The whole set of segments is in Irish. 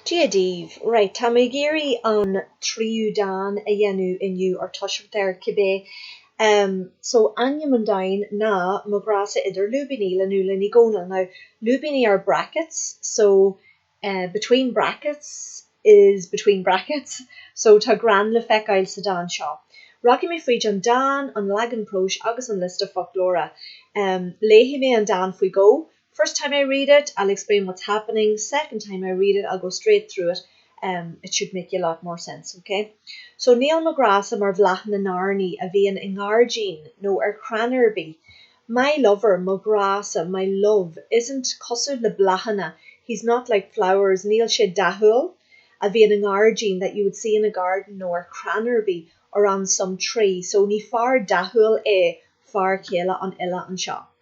Dia daoibh. Right, tá mé ag iarraidh an tríú dán a dhéanamh inniu, or toiseacht air, cibé. Em, so, ainm an dáin ná Mo Ghrá-sa Idir Lúibíní le Nuala Ní Dhomhnaill. Now, lúibíní are brackets, so, eh, between brackets is between brackets, so, tá greann le feiceáil sa dán seo. Rachaidh mé fríd an dán, an leagan próis agus an liosta foclóra. Em, léifidh mé an dán faoi dhó, First time I read it, I'll explain what's happening, second time I read it, I'll go straight through it, em it should make a lot more sense, ok? So níl mo ghrá-sa mar bhláth na n-airní a bhíonn i ngairdín nó ar chrann ar bith My lover, mo ghrá-sa, my love, isn't cosúil le bláthanna He's not like flowers, níl sé dathúil a bhíonn i ngairdín that you would see in a garden nó ar chrann ar bith or on some tree, so ní fear dathúil é fear céile an fhile anseo.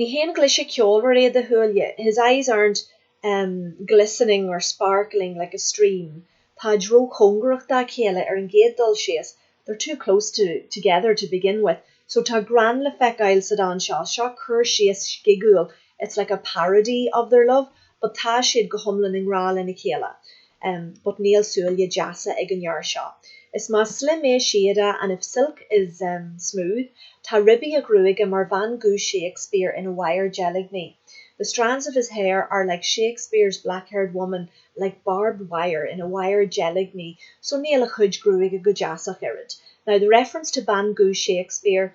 Ní haon ghlaise ceolmhar iad a shúile, his eyes aren't, em, glistening or sparkling like a stream, táid róchóngarach dá chéile ar an gcéad dul síos, they're too close to, together to begin with, so tá greann le feiceáil sa dán seo, seo cur síos scigiúil, it's like a parody of their love, but tá siad go hiomlán i ngrá lena chéile. um, but níl súile deasa ag an fhear seo. Is más slim é síoda and if silk is, um, smooth, tá ribí a ghruaige mar bhean dhubh Shakespeare ina wire deilgní, the strands of his hair are like Shakespeare's black-haired woman like barbed wire ina wire deilgní so níl a chuid gruaige go deas ach oiread. Now the reference to bhean dhubh Shakespeare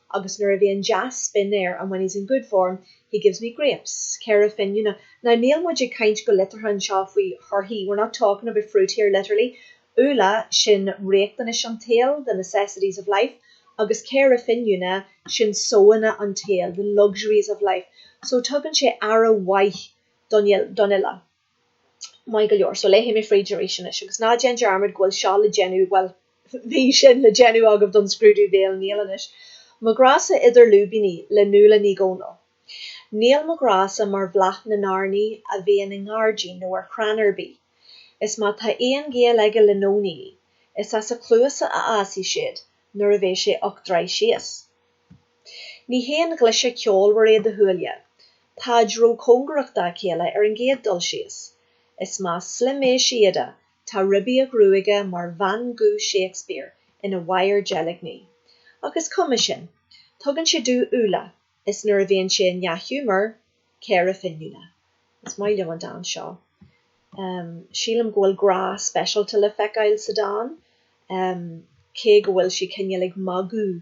agus nuair a bhíonn dea-spion air and when he's in good form, he gives me grapes, caora fíniúna. Now níl muid ag caint go liteartha anseo faoi thorthaí, we're not talking about fruit here literally, úlla, sin riachtanais an tsaoil, the necessities of life, agus caora fíniúna, sin sóanna an tsaoil, the luxuries of life. So tugann sé aire mhaith don fhile. Maith go leor, so léifidh mé fríd arís anois. Agus ná déan dearmad go bhfuil seo le déanamh, bhuel, bhí sin le déanamh agaibh don scrúdú bhéil, níl anois. Mo Ghrá-sa idir Lúibíní le Nuala Ní Dhomhnaill. Níl mo ghrá-sa mar bhláth na n-airní a bhíonn i ngairdín nó ar chrann ar bith. Is má tá aon ghaol aige le nóiníní, is as a chluasa a fhásfaidh siad nuair a bheidh sé ocht dtroigh síos. Ní haon ghlaise ceolmhar iad a shúile, táid róchóngarach dá chéile ar an gcéad dul síos. Is más slim é síoda, tá ribí a ghruaige mar bhean dhubh Shakespeare ina wire deilgní. Ach is cuma sin. Tugann sé domh úlla, is nuair a bhíonn sé i ndea-ghiúmar, caora fíniúna. Is maith liom an dán seo. Sílim go bhfuil grá speisialta le feiceáil sa dán, cé go bhfuil sí cineál ag magadh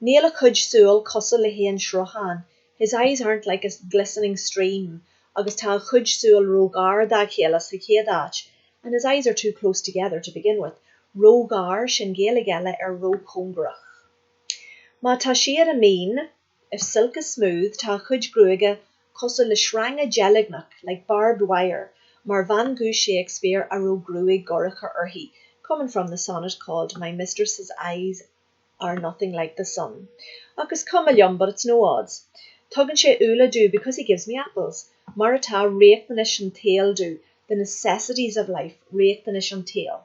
Níl a chuid súl cosúil le haon sruthán, his eyes aren't like a glistening stream, agus tá a chuid súl róghar dá chéile sa chéad áit, and his eyes are too close together to begin with, róghar, sin Gaeilge eile ar róchóngarach. Má tá síoda mín, if silk is smooth, tá a chuid gruaige cosúil le sreanga deilgneach, like barbed wire, mar bhean dhubh Shakespeare a raibh gruaig dhorcha uirthi, coming from the sonnet called My Mistress's Eyes are nothing like the sun. Ach is cuma liom, but it's no odds. Tugann sé úlla domh, because he gives me apples. Mar atá riachtanais an tsaoil domh, the necessities of life, riachtanais an tsaoil.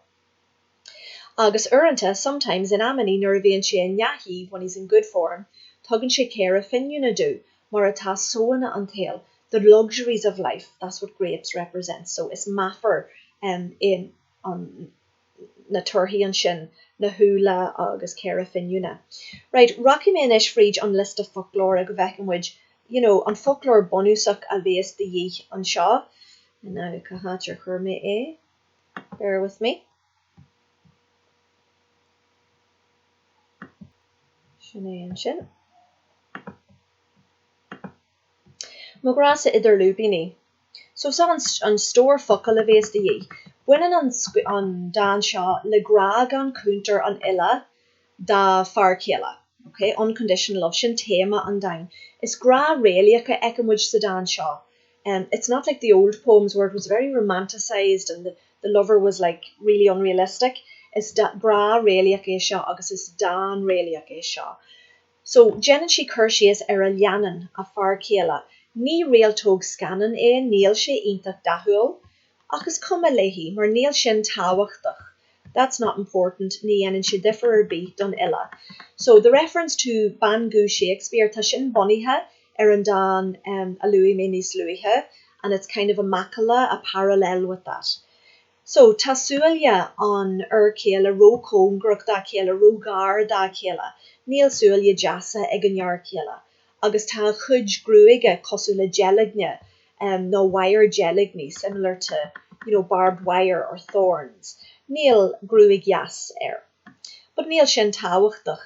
Agus uaireanta, sometimes, in amannaí, nuair a bhíonn sé i ndea-chaoi, when he's in good form, tugann sé caora finiúna domh, mar atá sóanna an tsaoil, the luxuries of life, that's what grapes represent, so is meafar é an. na torthaí ansin, na húlla agus caora finiúna. Right, rachaidh mé anois fríd an liosta foclóra go bhfeice muid, you know, an foclóir bunúsach a bhéas de dhíth anseo. Now, cá háit ar chuir mé é? Bear with me. Sin é ansin. Mo ghrá-sa idir lúibíní. So seo an stór focal a bhéas de dhíth. Baineann an an dán seo le grá gan cuntar an fhile dá fear céile, ok? Unconditional love, sin téama an dáin. Is grá réalaíoch a fheiceann muid sa dán seo. It's not like the old poems where it was very romanticised and the lover was like really unrealistic. Is grá réalaíoch é seo agus is dán réalaíoch é seo. So, déanann sí cur síos ar a leannán, a fear céile, ní réaltóg scannán é, níl sé iontach dathúil. Ach is cuma léi, mar níl sin tábhachtach, that's not important, ní dhéanann sé difir ar bith don fhile. So, the reference to bean dhubh Shakespeare, tá sin bunaithe ar an dán a luaigh mé níos luaithe, and it's kind of a macalla, a parallel with that. So, tá súile an fhir chéile ró-chóngarach dá chéile, ró-ghar dá chéile. Níl súile deasa ag an fhear chéile. Agus tá a chuid gruaige cosúil le deilgne, em, nó wire deilgní, similar to, you know, barbed wire or thorns. Níl gruaig dheas air. But níl sin tábhachtach.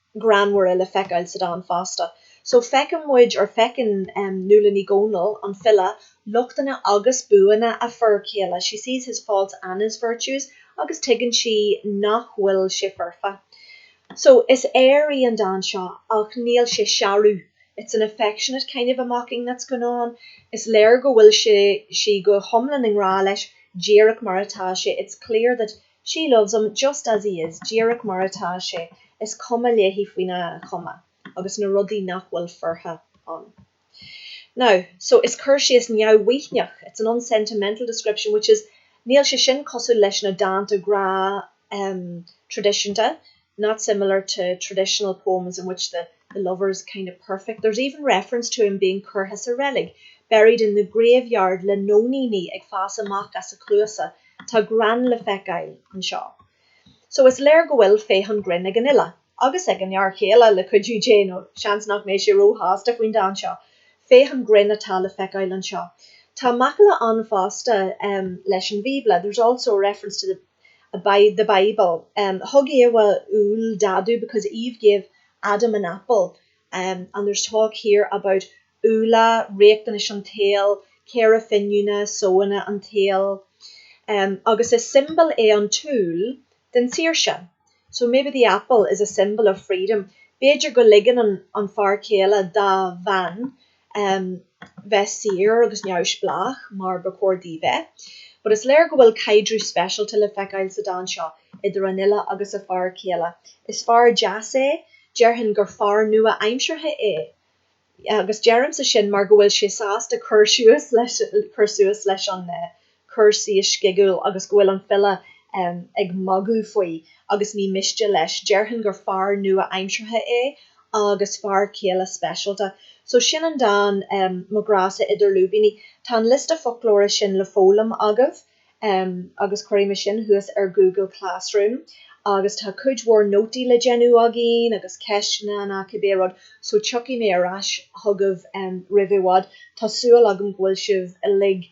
greannmhaire le feiceáil sa dán fosta. So feiceann muid, or feiceann Nuala Ní Dhomhnaill, an file, lochtanna agus buanna a fir chéile, she sees his faults and his virtues, agus tuigeann sí nach bhfuil sé foirfe. So is aoir í an dán seo ach níl sé searbh, it's an affectionate kind of a mocking that's going on. Is léir go bhfuil sé, sí go hiomlán i ngrá leis, díreach mar atá sé, it's clear that She loves him just as he is, díreach mar atá sé, is cuma léi faoina chuma agus na rudaí nach bhfuil foirfe ann. Now, so, is cur síos neamh-mhaoithneach, it's an unsentimental description, which is, níl sé sin cosúil leis na dánta grá, em, traidisiúnta, not similar to traditional poems in which the the lover is kind of perfect, there's even reference to him being curtha sa reilig, buried in the graveyard le nóiníní ag fás amach as a chluasa, tá greann le feiceáil anseo. So is léir go bhfuil féith an ghrinn ag an fhile, agus ag an fhear chéile le cuidiú Dé, nó seans nach mbeidh sé róshásta faoin dán seo. Féith an ghrinn atá le feiceáil anseo. Tá macalla ann fosta leis an Bhíobla, there's also a reference to the. the Bible. Thug Éabha úll d'Ádhamh because Eve gave Adam an apple and there's talk here about úlla, riachtanais an tsaoil, caora fíniúna, sóanna an tsaoil, agus is siombail é an t-úll den tsaoirse. So maybe the apple is a symbol of freedom. B'fhéidir go ligeann an fear céile dá bhean um bheith saor agus neamhspleách mar ba chóir di bheith. But is léir go bhfuil caidreamh speisialta le feiceáil sa dán seo idir an fhile agus a fear céile. Is fear deas é, déarfainn gur fear nua-aimseartha é, agus deirimse sin mar go bhfuil sé sásta cur suas leis an cur síos scigiúil agus go bhfuil an file ag magadh faoi agus ní miste leis, déarfainn gur fear nua-aimseartha é agus fear céile speisialta. So sin an dán, Mo Ghrá-sa Idir Lúibíní. Tá an liosta foclóra sin le foghlaim agaibh agus cuirfidh mé sin thuas ar Google Classroom agus tá cuid mhór nótaí le déanamh againn agus ceisteanna nó cibé rud so tiocfaidh mé ar ais chugaibh roimh i bhfad. Tá súil agam go bhfuil sibh uilig